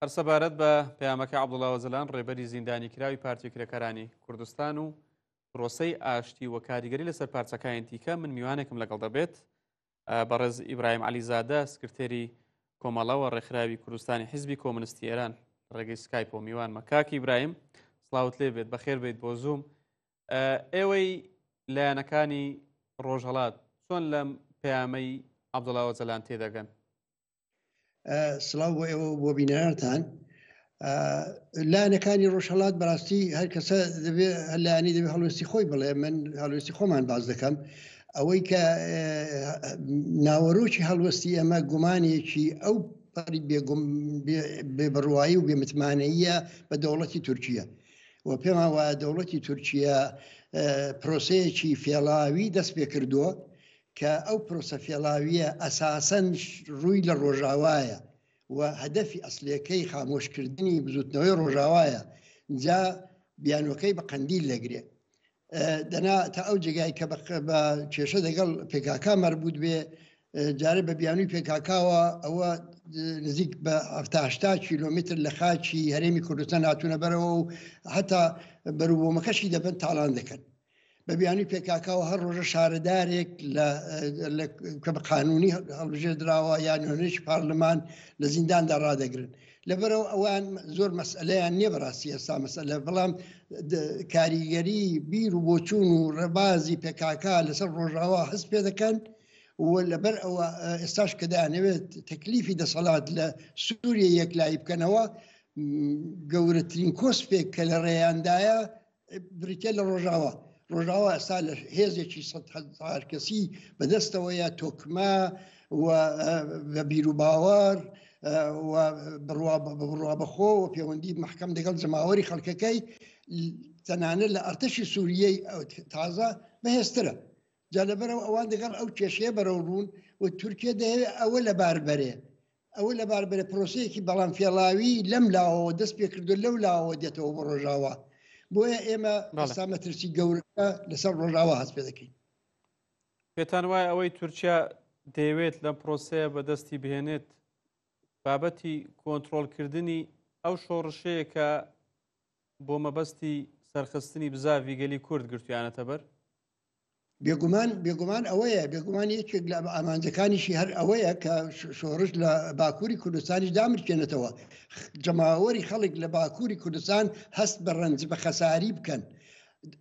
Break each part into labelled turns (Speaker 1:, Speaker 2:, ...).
Speaker 1: هەرسەبارەت بە پەیامەکە عبدڵاوەزلان ڕێبەری زیندانی کراوی پارتی کرێکارانی کوردستان و پرۆسەی ئاشتی و کاریگەری لەسەر پارچەکانی دیکە من میوانێکم لەگەڵ دەبێت بەڕێز ئیبراهیم علیزادە سکرتێری کۆمەڵەوە ڕێکخراوی کوردستانی حیزبی کۆمنستی ئێران ڕێگەی سکایپ و میوان مەکاکی برایم سلااوت لێ بێت بەخێر بیت بۆ زووم ئێوەی لایەنەکانی ڕۆژهڵات چۆن لەم پەیامەی عبدڵاوە جەلان تێدەگەن
Speaker 2: سلااو بۆ ئێوە بۆ بینەرتان لایەنەکانی ڕۆژهڵات بەڕاستی هەر کەسە دەبێ هەلانی دەبێ هەڵوێستی خۆی بڵێ من هەڵوێستی خۆمان باز دەکەم ئەوەی کە ناوەرۆکی هەڵوەستی ئەمە گومانێکی ئەو پەری بێگوم بێ بڕوایی و بێمتمانەیە بە دەوڵەتی تورکیە و پێمان وایە دەوڵەتی تورکیا پرۆسەیەکی فێڵاوی دەست پێ کردووە کە ئەو پرۆسە فێڵاوییە ئەساسەن ڕووی لە ڕۆژاوایە و هەدەفی ئەسڵیەکەی خامۆشکردنی بزوتنەوەی ڕۆژاوایە جا بیانوەکەی بە قەندیل لەگرێ دەنا تا ئەو جێگای کە بە کێشە دەگەڵ پێکاکا مەربوت بێ جارە بە بیانوی پێکاکاوە ئەوە نزیک بە هەفتاشتا کیلومتر لە خاچی هەرێمی کوردستان هاتوونە بەرەوە و هەتا بەروبوومەکەشی دەبن تاالان دەکەن بە بیانوی پێکاکاوە هەر ڕۆژە شارەدارێک کە بە قانونی هەڵبژێ دراوە یان هەنێکی پارلمان لە زینداندا ڕدەگرن لەبەرەوە ئەوان زۆر مەسئلەیان نییە بەڕاستی ئێستا مەسئلە بەڵام کاریگەری بیر و بۆچوون و ڕێبازی پێکاکا لەسەر ڕۆژاوا هەست پێ دەکەن و لەبەر ئەوە ئێستاش کە دەیانەوێت تەکلیفی دەسەڵات لە سووریە یەکلایی بکەنەوە گەورەترین کۆسپێک کە لە ڕێیاندایە بریتە لە ڕۆژاوا ڕۆژاوا ئەستا لە هێزێکی سە هزار کەسی بەدەستەوەیە تۆکمە بە بیروباوەڕ بڕوا بەخۆ و پەیوەندی محکەم دەگەڵ جەماوەری خەڵکەکەی تەنانەت لە ئەرتەشی سووریەی ئەو تازە بەهێسترە جا لەبەرەوە ئەوان دەگەڵ ئەو کێشەیە بەرەو ڕوون و تورکیا دەیەوێت ئەوە لە باربەرێ ئەوە لەباربرە پرۆسەیەکی بەڵام فێڵاوی لەم لاوەوە دەست پێکردو لەو لاوە دێتەوە بۆ ڕۆژاوا بۆیە ئێمە سامەترسی گەورەکە لەسەر ڕۆژاوا هەست پێ دەکەین
Speaker 1: پێتان وایە ئەوەی تورکیا دەیەوێت لەم پرۆسەیە بەدەستی بهێنێت بابەتی کۆنتترۆلکردنی ئەو شۆڕشەیە کە بۆ مەبەستی سەرخستنی بزاڤی گەلی کورد گرتویانەتە بەر بێگومان بێگومان
Speaker 2: ئەوەیە بێگومان یەکێک لە ئامانجەکانیشی هەر ئەوەیە کە شۆڕش لە باکووری کوردستانی دامرکێنێتەوە جەماوەری خەڵک لە باکووری کوردستان هەست بە ڕەنج بە خەساری بکەن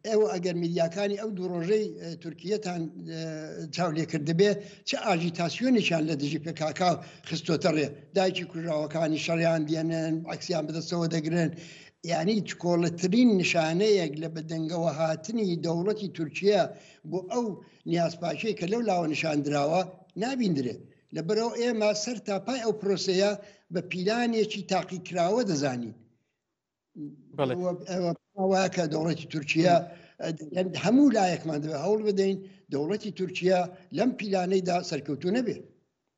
Speaker 2: ئێوە ئەگەر میدیاکانی ئەو دوو ڕۆژەی تورکیەتان چاو لێکردبێ چ ئاژیتاسیۆنیشان لە دژی پێکاکا خستۆتەڕێ دایکی کوژاوەکانی شەڕیان دێنن عکسیان بدەستەوە دەگرن یانی چکۆڵەترین نیشانەیەک لە بەدەنگەوە هاتنی دەوڵەتی تورکیە بۆ ئەو نیازپاکیەی کە لەو لاوە نیشاندراوە نابیندرێت لەبەرەوە ئێمە سەر تا پای ئەو پرۆسەیە بە پیلانێکی تاقیکراوە دەزانین واکە دەوڵەتی تورکیا هەموو لایەکمان دەبێت هەوڵ بدەین دەوڵەتی تورکیا لەم پیلانەیدا سەرکەوتو نەبێت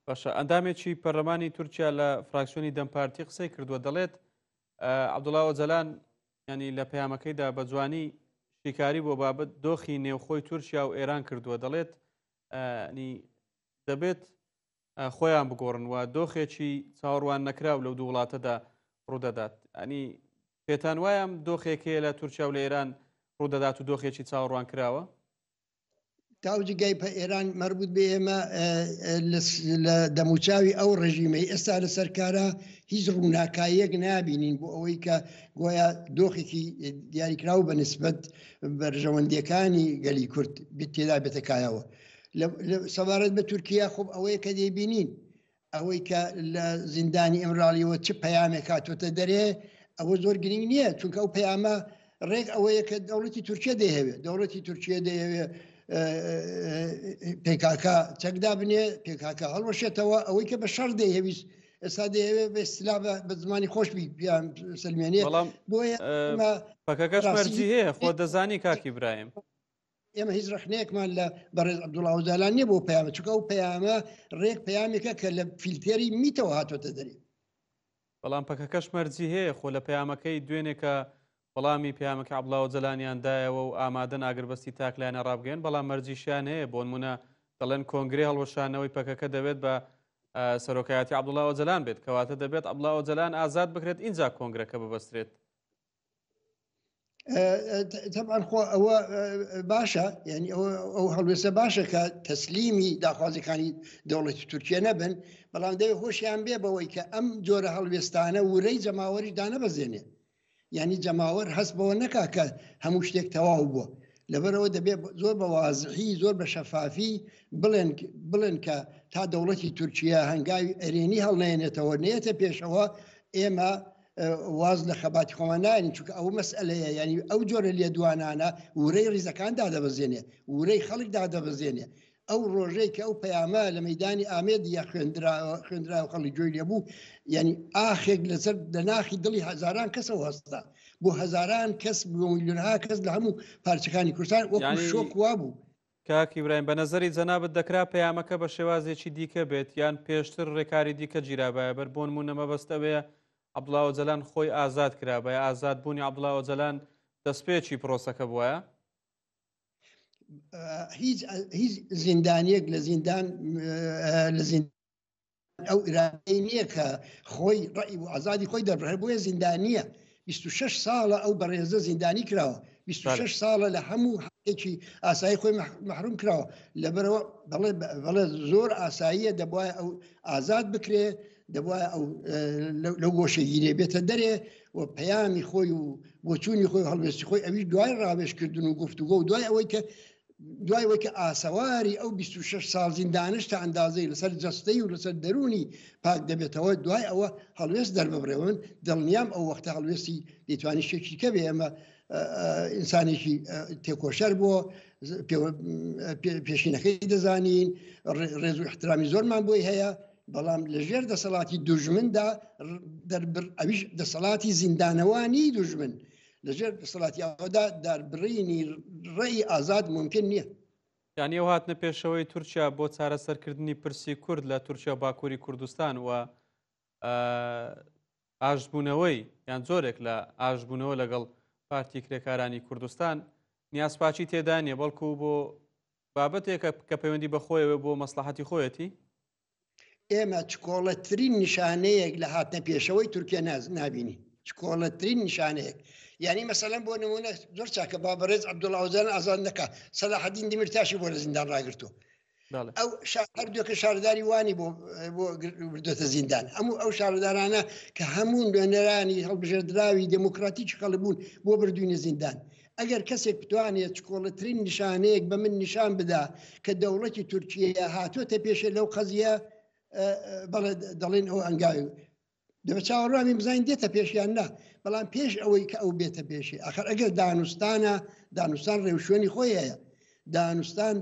Speaker 2: باشە
Speaker 1: ئەندامێکی پەرلەمانی تورکیا لە فراکسیۆنی دەمپارتی قسەی کردووە دەڵێت عەبدوڵا ئۆجەلان ینی لە پەیامەکەیدا بە جوانی شیکاری بۆ بابەت دۆخی نێوخۆی تورکیا و ئێران کردووە دەڵێت دەبێت خۆیان بگۆڕن و دۆخێکی چاوەڕوان نەکراو لەو دوو وڵاتەدا ڕوودەدات ئەنی پێتان وایم دۆخێکەیە لە تورکیا و لە ئێران ڕوودەدات و دۆخێکی چاوەڕوان کراوە
Speaker 2: تاوجگای پە ئێران مەربوت بێ ئێمە لە دەموچاوی ئەو ڕژیمەی ئێستا لە سەرکارە هیچ ڕووناکاییەک نابینین بۆ ئەوەی کە گۆیا دۆخێکی دیاریکراو بە نسبت بەرژەوەندیەکانی گەلی کورد تێدا بێتەکایەوە سەبارەت بە تورکیا خۆب ئەوەیە کە دەیبینین ئەوەی کە لە زیندانی ئیمراڵیەوە چ پەیامێک هاتوۆتە دەرێ ئەوە زۆر گرنگ نییە چونکە ئەو پەیامە ڕێک ئەوەیە کە دەوڵەتی تورکیا دەیەوێت دەوڵەتی تورکیا دەیەوێت پێکاکە چەکدا بنێ پێکاکە هەڵوەشێتەوە ئەوەی کە بە شەر دەیهویست ئێستا دەیەوێت بە سلا بە زمانی خۆش بیان سلمێنێ بۆیە
Speaker 1: پەکەکەش مەرجی هەیە خۆ دەزانی کاکی برایم ئێمە هیچ
Speaker 2: ڕخنەیەکمان لە بەڕێز عبدوڵا ئۆجالان نیە بۆ پەیامە چکە و پەیامە ڕێک پەیامێکە کە لە فیلتێری میتەوە هاتۆتە دەری بەڵام
Speaker 1: پەکەکەش مەرجی هەیە خۆ لە پەیامەکەی دوێنێکە وەڵامی پامەکە عبلاوە جەلانیان دایەوە و ئامادەن ئاگربەستی تاکلایەنە ڕابگەن بەڵام مەرجیشیان هەیە بۆن منە دەڵێن کۆنگری هەڵوەشانەوەی پەکەکە دەوێت بە سەرۆکایەتی عبدڵاوە جەلان بێت کەواتە دەبێت عبلاوە جەلان ئازاد بکرێت اینجا کۆنگرەکە ببەسترێت
Speaker 2: تەبان خۆ ئەوە باشە ینی ئەو هەڵوێسە باشە کە تەسلیمی داخوازەکانی دەوڵەتی تورکیا نەبن بەڵام دەوێت هۆشیان بێ بەوەی کە ئەم جۆرە هەڵوێستانە ورەی جەماوەری دانەبەزێنێ ینی جەماوەر هەست بەوە نەکا کە هەموو شتێک تەواو بووە لەبەرەوە دەبێت زۆر بە وازحی زۆر بە شەفافی بڵێن بڵێن کە تا دەوڵەتی تورکیا هەنگاوی ئەرێنی هەڵنێنێتەوە نێتە پێشەوە ئێمە واز لە خەباتی خۆمان ناین چونکە ئەو مەسئلەیە ینی ئەو جۆرە لێدوانانە ورەی ریزەکان دادەبەزێنێ ورەی خەڵک دادەبەزێنێ ئەو ڕۆژەی کە ئەو پەیامە لە مەدانی ئامێد یا خوێندرا خوێندرا و خەڵی جوێ لێبوو یعنی ئاخێک لەسەر لە ناخی دڵی هزاران کەسەوە هەستا بۆ هزاران کەس بۆ میلیۆنها کەس لە هەموو پارچەکانی کوردستان وەکو شۆک وا بوو کاک ئیبراهیم بە
Speaker 1: نەزەری جەنابت دەکرا پەیامەکە بە شێوازێکی دیکە بێت یان پێشتر رێکاری دیکە گیرابایە بەر بۆنمونە مەبەست ئەوەیە عەبدوڵا ئۆجەلان خۆی ئازاد کرابایە ئازاد بوونی عەبدوڵا ئۆجەلان دەستپێکی پرۆسەکە بوایە هیچ
Speaker 2: زیندانیەک لە زیندان لە زیند ئەو ئرادەی نییە کە خۆی ڕئی و ئازادی خۆی دەبڕێ بۆیە زیندانیە 26 ساڵە ئەو بەڕێزە زیندانی کراوە 26 ساڵە لە هەموو هەێکی ئاسایی خۆی محروم کراوە لەبەرەوە بەڵێ زۆر ئاساییە دەبواە ئەو ئازاد بکرێ دەبواە لە گۆشەگیرێ بێتە دەرێ و پەیامی خۆی و بۆچوونی خۆی هەڵوێستی خۆی ئەوی دوای ڕاوێشکردن و گفتوگۆ و دوای ئەوەی کە دوای وەی کە ئاسەواری ئەو بیست و شەش ساڵ زیندانەش تا ئەندازەی لەسەر جەستەی و لەسەر دەروونی پاک دەبێتەوە، دوای ئەوە هەڵوێست دەرببڕێ و من دڵنیام ئەو وەختە هەڵوێستی دەیتوانی شتێکی کە بێ ئەمە ئینسانێکی تێکۆشەر بۆ پێشینەکەی دەزانین ڕێز و احترامی زۆرمان بۆی هەیە بەڵام لەژێر دەسەڵاتی دوژمندا دەربر ئەویش دەسەڵاتی زیندانەوانی دوژمن لەژێر دەسەڵاتیاوەدا داربڕینی ڕێی ئازاد ممکن نییە یانی ئەو هاتنە
Speaker 1: پێشەوەی تورکیا بۆ چارەسەرکردنی پرسی کورد لە تورکیا باکووری کوردستان و ئاشبوونەوەی یان زۆرێک لە ئاشبوونەوە لەگەڵ پارتی کرێکارانی کوردستان نیازپاچی تێدا نیە بەڵکو بۆ بابەتێکە کە پەیوەندی بەخۆیەوە بۆ مەسلحەتی خۆیەتی
Speaker 2: ئێمە چکۆڵەترین نیشانەیەک لە هاتنە پێشەوەی تورکیا ناز نبینی چکۆڵەترین نیشانەیەک یعنی مەسەلەن بۆ نمونە زۆر چاکە با بەڕێز عبدوڵاوزان ئازان دەکە سەلاحدین دیمرتاشی بۆ لە زیندان ڕاگرتو ئەو هەردووکە شارداری وانی بۆ بۆ بردێتە زیندان هەموو ئەو شاردارانە کە هەموو نوێنەرانی هەڵبژێردراوی دموکراتی چقەڵ بوون بۆ بردوینە زیندان ئەگەر کەسێک بتوانێت چکۆڵەترین نیشانەیەک بە من نیشان بدا کە دەوڵەتی تورکیە هاتۆتە پێشێ لەو قەزیە بەڵێ دەڵێن ئەو ئەنگاوی دەبە چاوەڕوامی بزانین دێتە پێشیان نا بەڵام پێش ئەوەی کە ئەو بێتە پێشی ئەخر ئەگەر دانوستانە دانوستان ڕێوشوێنی خۆی هەیە دانوستان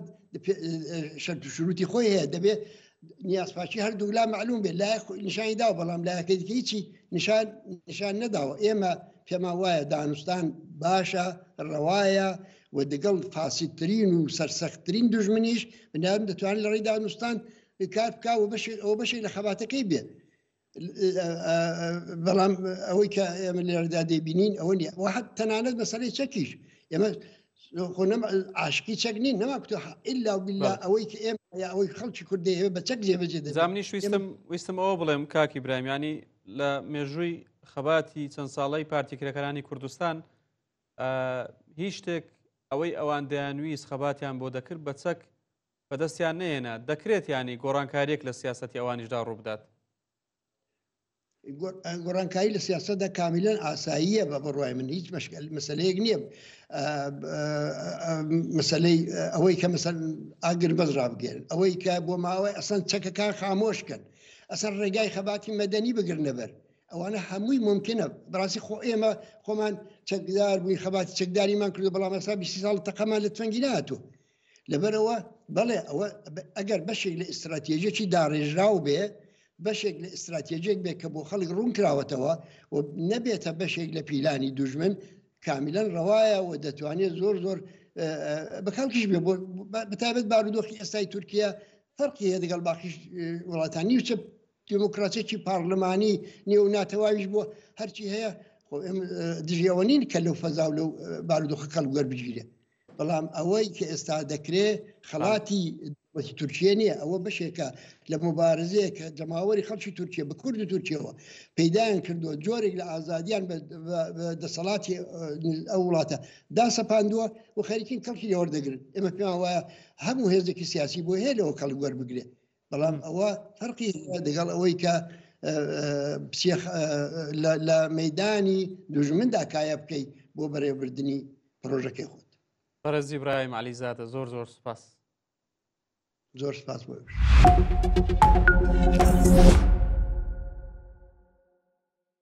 Speaker 2: شەرتشروتی خۆی هەیە دەبێت نیازپاچی هەردوو لا معلوم بێت لای نیشانی دا بەڵام لایەکەی هیچی نیشان نیشان نەداوە ئێمە پێما وایە دانوستان باشە ڕەوایە و دەگەڵ فاسیترین و سەرسەختترین دژمنیش بنام دەتوانین لە ڕێی دانوستان کار بکە و بەشێک ئەو بەشێک لە خەباتەکەی بێت بەڵام ئەوەی کە ئێمە لێرەدا دەبینین ئەوە نیە وە حەت تەنانەت مەسەری چەکیش ئێمە عاشقی چەک نین نەما کوتە ئللا بلا ئەوەی کە ئێمە یا ئەوەی خەڵکی کوردی هەیە بە چەک جێبەجێ دەزاننی شویستم ویستم
Speaker 1: ئەوە بڵێم کاکی برامیانی لە مێژووی خەباتی چەند ساڵی پارتی کرێکەکانی کوردستان هیچ شتێک ئەوەی ئەوان دەیانویست خەباتیان بۆ دەکرد بە چەک بەدەستیان نەهێنا، دەکرێت یانی گۆڕانکارییەک لە سیاسەتی ئەوانیشدا ڕووبدات؟
Speaker 2: گۆڕانکاری لە سیاستدا کامیلەن ئاساییە بە بڕای من هیچ مەسلەیەک نییە مەسلەی ئەوەی کە مەسەر ئاگر بەز ڕابگەێن ئەوەی کە بۆ ماوەی ئەسەن چەکەکان خامۆش کرد ئەسەر ڕێگای خەباتی مەدەنی بگرنەبەر ئەوانە هەمووی ممکنە بڕاستی خۆ ئێمە خۆمان چەکدار بووین خەباتی چەکداریمان کردو بەڵام ئەسا بی ساڵ تەقەمان لە تفەنگی ناتوە لەبەرەوە بەڵێ ئەوە ئەگەر بەشێک لە ئیستراتێژێکی داڕێژراو بێ بەشێک لە ئیستراتێژێک بێت کە بۆ خەڵک ڕوون کراوەتەوە و نەبێتە بەشێک لە پیلانی دوژمن کامیلەن ڕەوایە و دەتوانێت زۆر زۆر بەکەڵکیش بێ بەتابەت بارودۆخی ئێستای تورکیا فەرقی هەیە دەگەڵ باقیش وڵاتانی وچە دیموکراسێکی پارلمانی نێو ناتەواویش بۆ هەرچی هەیە دژیەوە نین کە لەو فەزا و لەو بارودۆخە کەڵگەر بگیرێت بەڵام ئەوەی کە ئێستا دەکرێ خەڵاتی وەکی تورکیە نییە ئەوە بەشێکە لە مبارزەیە کە جەماوەری خەڵکی تورکیە بە کورد و تورکیەوە پەیدایان کردووە جۆرێک لە ئازادیان دەسەڵاتی ئەو وڵاتە داسەپاندووە و خەریکین کەڵکی لێوەردەگرن ئێمە پێیان وایە هەموو هێزێکی سیاسی بۆ هەیە لەوە کەڵ گوەر بگرێت بەڵام ئەوە فەرقی دەگەڵ ئەوەی کە لە مەدانی دوژمندا کایە بکەیت بۆ بەرێوبردننی پرۆژەکەی خۆت بەرەزی برایم
Speaker 1: علیزادە زۆر زۆر سپاس
Speaker 2: زۆر سپاس
Speaker 1: بۆش.